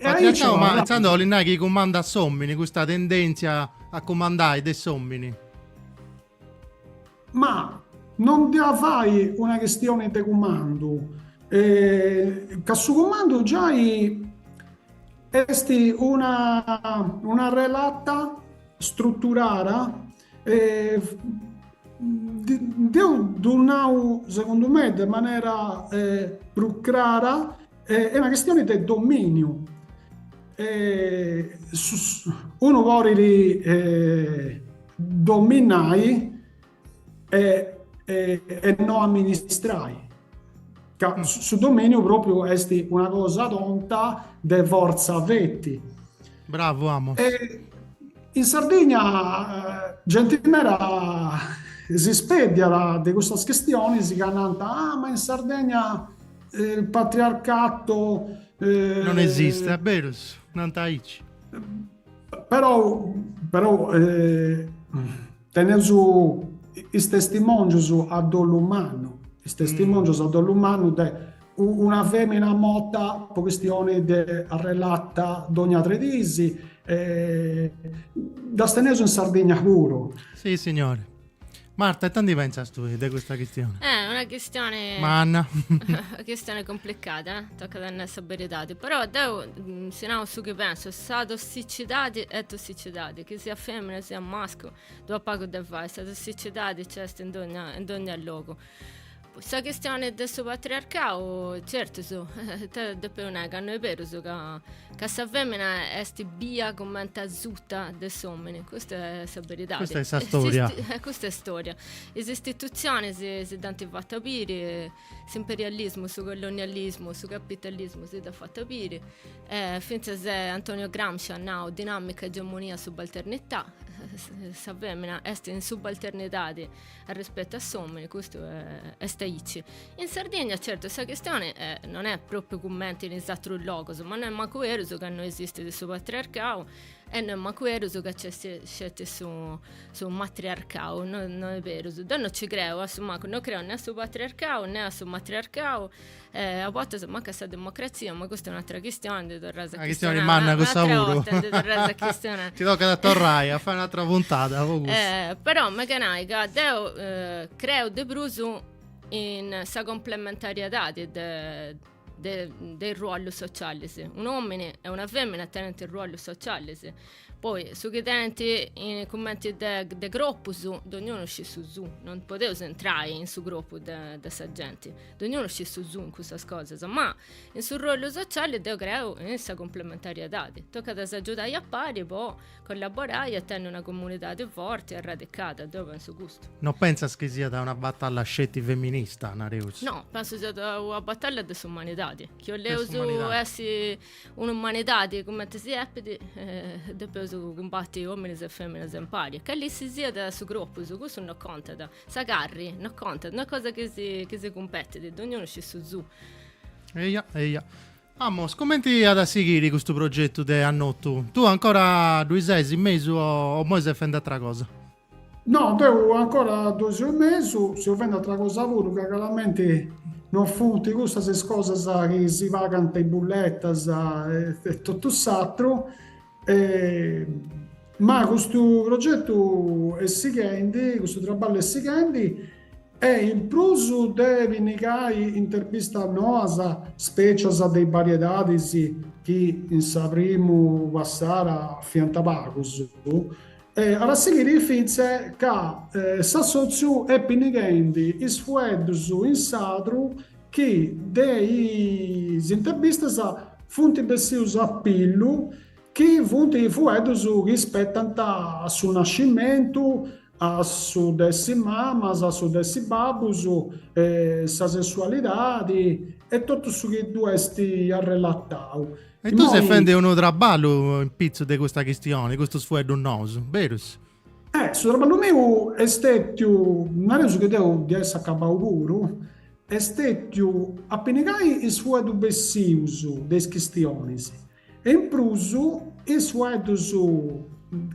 Patriarcau, ma intzandus 'olit nai chi cumandat s'òmini, custa tendèntzia a cumandai de s'òmini? Ma no emu a fai una chistioni de cumandu, ca su cumandu giai est una una arrelata struturada deu ddu nau segundu me de manera prus crara, est una chistioni de dominiu. Unu podit dominai e, e, e no amministrai. Ca su dominiu propriu est una cosa tonta de fortza feti. Bravo, amo. E in Sardigna eh, genti meda si speddiat de cussas chistionis ca nant, ah, ma in Sardigna eh, il patriarcato... Eh, non esiste, eh, berus, nant aici. Però però teneus is testimòngius a dolu mannu, is testimòngius a dolu mannu de una fèmina morta po chistioni de arrelata dogna tres dis, ddas teneus in Sardigna puru. Sissignori Marta, e tandu ita pensas tui de questa chistione? Eh, una chistione... Manna. una chistione complicata, eh? tocat a nai sa beridadi. Però, deu, mm, si nau su chi penso, sa tossicidadi est tossicidadi, chi siat femina, siat mascu, ddu at pagu de fai, sa tossicidadi c'est in dogna, in dogna logu. Sa chistione de su patriarcau, certus, ita depeus nai, ca no est berus ca, ca sa femina est bia cumenti asuta de s'omini, custa est sa beridadi. Custa est sa storia. Custa est storia. Is istitutzionis si dd'ant fatu biri, s'imperialismu, su colonialismu, su capitalismu si dd'at fatu biri, fintzas Antonio Gramsci at nau, dinamica, egemonia, subalternità, sa femina est in subalternidadi a rispettu a s'omini custu est aici in Sardigna certu sa chistioni no est propriu cumenti in is atrus logus ma no est mancu berus ca no esistit su patriarcau e no est mancu berus ca c'est sceti su su matriarcau no no est berus deu no ci creu a su mancu no creu ne a su patriarcau ne a su matriarcau E a bortas mancu a sa democratzia, ma custa est un'atra chistioni, ndi torraus a chistionai. Una chistioni manna cussa puru. Ndi torraus a chistionai. Tocat a torrai a fai un'atra puntada po cussa. Eh, però m'emu a nai ca deu creu de prus in sa complementariedadi de de de is ruollus socialis. Un'omini e una femina tenint ruollus socialis Poi, su chi tenent in, cumenti de, de corpus, dognunu scit su suu, non podeus intrai in su corpus de, de sa genti, dognunu scit su suu in custas cosas, ma in su ruollu sociali deu creu in sa cumplementariedadi, tocat a s'agiudai a pari po collaborai e tenni una comunidadi forti e arradicada, deu pensu custu. No pensas chi siat una batalla sceti feminista, nareus? No, pensu siat una batalla de s'umanidadi, chi 'oleus essi Un'umanidadi cumenti si depit, depeus cumbati ominis e feminas impari, calisisiat su cropus, cussu no contat, sa carri no contat, no est cosa chi si chi si cumpetit, dognunu scit su suu. Eia, eia. Mmm, cumenti at a sighiri custu progetu de Annotu? Tui ancora ddui ses in mesu o imoi ses fend'atra cosa? No, deu ancora ddui seu in mesu, seu fendi ateras cosas puru ca craramenti non funt cussas is cosas chi si pagant is bulletas e totu s'ateru. Ma custu progetu est sighendi, custu traballu est sighendi e in prus de pinnigai intervistas noas, specias de is variedadis chi in sa primu passada fiant pagus, E at a sighiri fintzas ca s'assòtziu est pinnighendi is fueddus in sardu chi de is interbistas funt bessius a pillu chi funt is fueddus chi ispetant a su nascimentu, a su de essi mamas, a su de essi babbus, sa sessualidadi e totu su chi ddu est arrelatau. E tui ses fendi unu traballu in pitzu de custa chistioni, custus fueddus nous, berus? Eh, su traballu meu est stètiu, nareus chi deu dd'ia a essi acabau puru, est stètiu a pinnigai is fueddus bessius de is chistionis e in prus is fueddus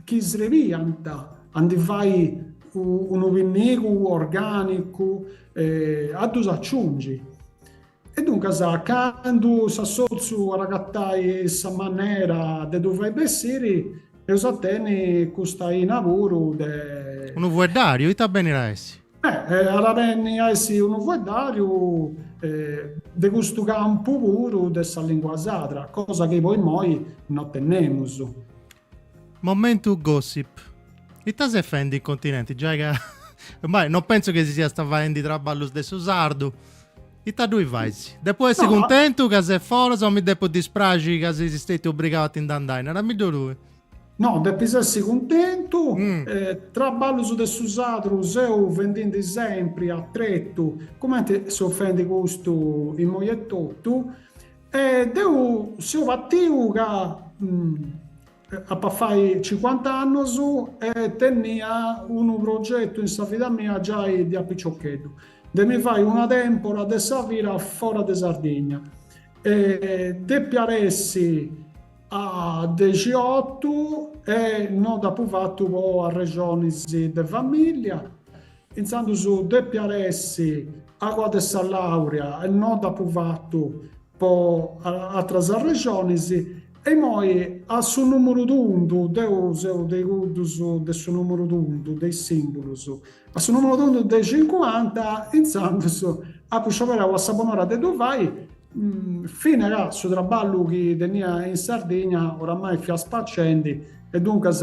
chi srebiant a ndi fai unu pinnigu orgànicu a ddus aciungi. E duncas, candu s'assòtziu at a agatai sa manera de ddu fai bessiri, eus a tenni custa aina puru de. Unu fueddàriu, ita benit a essi? Beh, at a benni a essi unu fueddàriu de custu campu puru de sa lìngua sarda, cosa chi po imoi no tennemus. Momentu Gossip. Ita ses faendi in continenti? Giai ca Mai, non pensu chi si siast faendi traballus de su sardu. Ita ddui fais? Depu essi cuntentu ca ses foras o mi depu dispraxi ca ses stètiu obrigau a ti ndi andai? Narammiddu tui. No, depis essi cuntentu. Traballus de su sadru seu fendindi sempri a tretu, cumenti seu faendi custu imoi etotu. E deu seu partiu ca apu a fai cincuanta annus e tenia unu progetu in sa vida mia giai de a piciocheddu, de mi fai una tèmpora de sa vida fora de Sardigna e depiat essi a dexiotu e no dd'apu fatu po arrexonis de familia Intzandus depiat essi agoa de sa làurea e no dd'apu fatu po atras arrexonis, e imoi a su nùmuru tundu, deu seu de cuddus de su nùmuru tundu, de is sìmbulus, a su nùmuru tundu de cincuanta, intzandus apu scioberau a sa bon'ora de ddu fai, fina ca su traballu chi tenia in Sardigna oramai fiat spacendi e duncas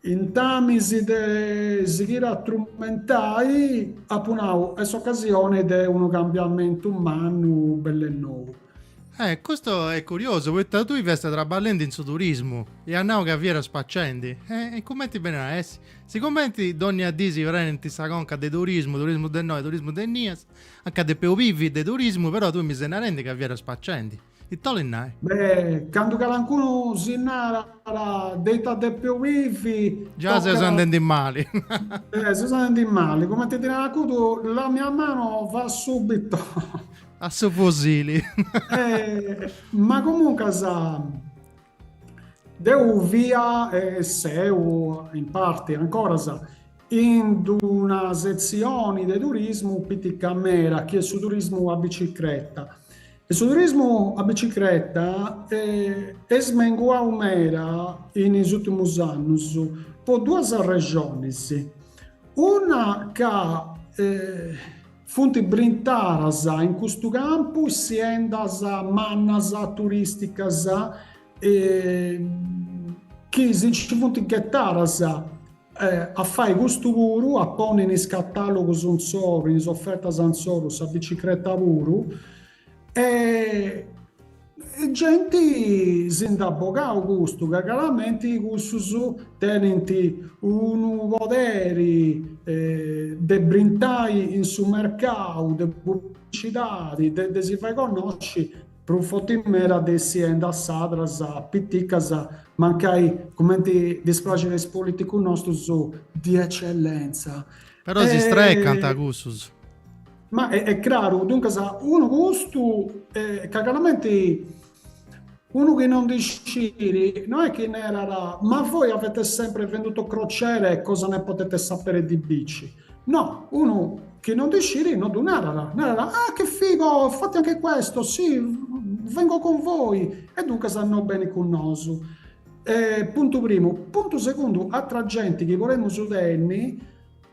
Intamis de sighiri a trumentai, apu nau, est s'ocasioni de unu cambiamentu mannu bell'e nou. Eh, custu est curiosu, poita tui fiast traballendi in su turismu e as nau ca fiat spacendi. E cumenti benit a essi? Sigumenti dònnia dì si prenint sa conca de turismu, turismu de innoi, turismu de innias, anca depeus bivi de turismu, però tui mi ses narendi ca fiat spacendi. Ite 'olit nai? Beh, candu calancunu si narat dei ti devi ubbidì, Già tocat... seus andendi mali. Eh, seus andendi mali, cumenti narat cuddu, la mia mano va subito... A su fusili. Eh, ma comuncas, Deu fia e seu in parti ancoras in una setzioni de turismu pitica mera chi est su turismu a bicicreta e su turismu a bicicreta est menguadu meda in is úrtimus annus po duas arrexonis, una ca Funt brintaras in custu campu siendas mannas, turisticas chi si nci funt ghetadas a fai custu puru, a ponni in is catalogus insoru, in is ofertas insoru sa bicicreta puru. E genti si nd'ant bogadu custu, ca craramenti cussus tenint unu poderi de brintai in su mercau de publicidadi, de de si fai connosci prus fotis meda de is aziendas sardas piticas, mancai cumenti ddis praxit a is politicus nostus, di eccellenza. Però si strecant cussus. Ma est craru, duncas, unu custu ca craramenti unu chi non ndi sciri no est chi narat, ma voi avete sempre venduto crociere cosa ne potete sapere di bici? No, unu chi non ndi sciri no ddu narat, narat, ah che figo, fate anche questo, sì, vengo con voi, e duncas no benit cun nosu. Puntu primu. Puntu segundu, atra genti chi podemus tenni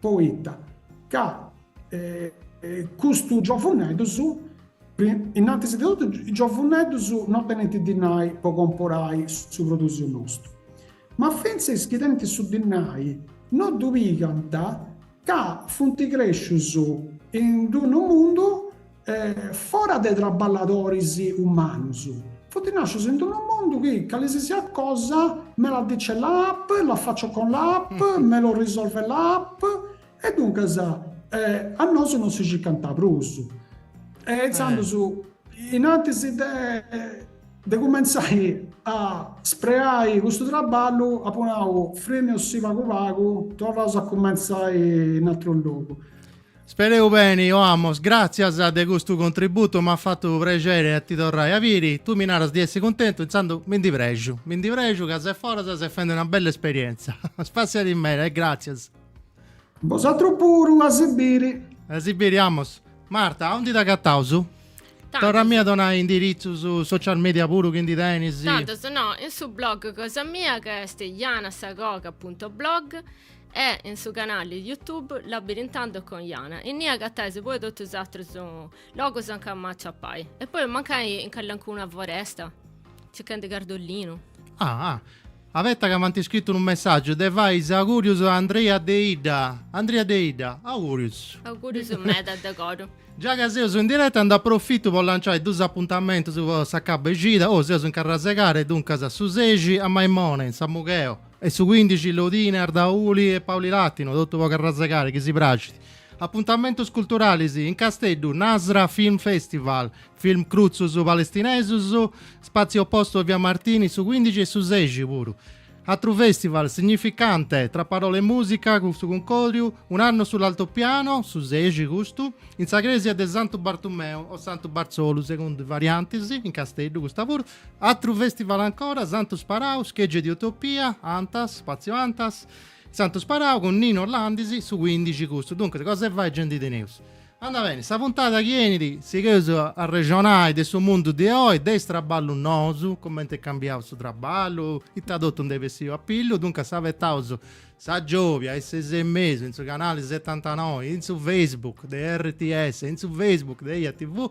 poita ca custus giovuneddus, innantis de totu is giovuneddus no tenint dinai po comporai su produsiu nostu, ma fintzas is chi tenint su dinai no ddu pigant ca funt crescius in d-unu mundu fora de traballadoris umanus. Funt nàscius in unu mundu chi calisisiat cosa me la dice l'app, la faccio con l'app, me lo risolve l'app, e duncas a nosu non si circant prus. E intzandus, inantis de cumentzai a spreai custu traballu, apu nau, firmeus·si pagu pagu, torraus a cumentzai in ateru logu. Spereus beni, o amos, gràtzias de custu contributu, m'at fatu prexeri a ti torrai a biri, tui mi naras di essi cuntentu, intzandus mi ndi prexu, mi ndi prexu ca ses foras e ses fendi una bella esperientza. Spassiadi meda e gràtzias. Bosatrus puru, a si biri. A si biri, Amos. Marta, aundi t'agataus? Torra·mì a donai indiritzus, social media puru chi ndi tenis. Tandus, no, in su blog cosa mia ca est janasagoga punto blog, e in su canali YouTube Labirintando con Jana, innì agatais poi totu is atrus logus a nca m'aciapai, e poi mancai in calincuna foresta, circhendi cardolinu. Ah, ah, abetta ca m'ant scritu unu messaggiu de fai is augurius a Andrea Deidda, Andria Deidda, augurius. Augurius meda de coru. Già ca seus in diretta nd'apu profitu po lanciai dus apuntamentus po sa ca b'at cida, oi seus in Carrasegare, duncas su sexi a Maimone in Samugheo, E su cuindixi Lodine, Ardauli e Paulilatino, totu po Carrasegare chi si praxit. Apuntamentus culturalis, in Casteddu, Nazra Film Festival, film crutzus palestinesus, Spazio Opposto a Via Martini, su cuindixi e su sexi puru. Atru festival Significante, Tra parole e musica, cun su cuncodriu Un anno sull'altopiano, su sexi custu, in sa cresia de Santu Bartumeu o Santu Bartzolu, segundu is variantis, in Casteddu custa puru, Atru festival ancora, Santu Sparau, Schegge di Utopia, Antas, Spazio Antas, Santu Sparau cun Nino Orlandis, su cuindixi custu. Duncas, cosa 'e fai nci ndi teneus? Anda beni, sa puntata chi 'enit sigheus a arrexonai de su mundu de oi, de is traballus nous, cumenti est cambiau su traballu, ita totu nd'est bessiu a pillu, duncas abetaus sa giòvia a is ses e mesu in su canali setantanoi, in su Facebook de RTS, in su Facebook de EjaTV,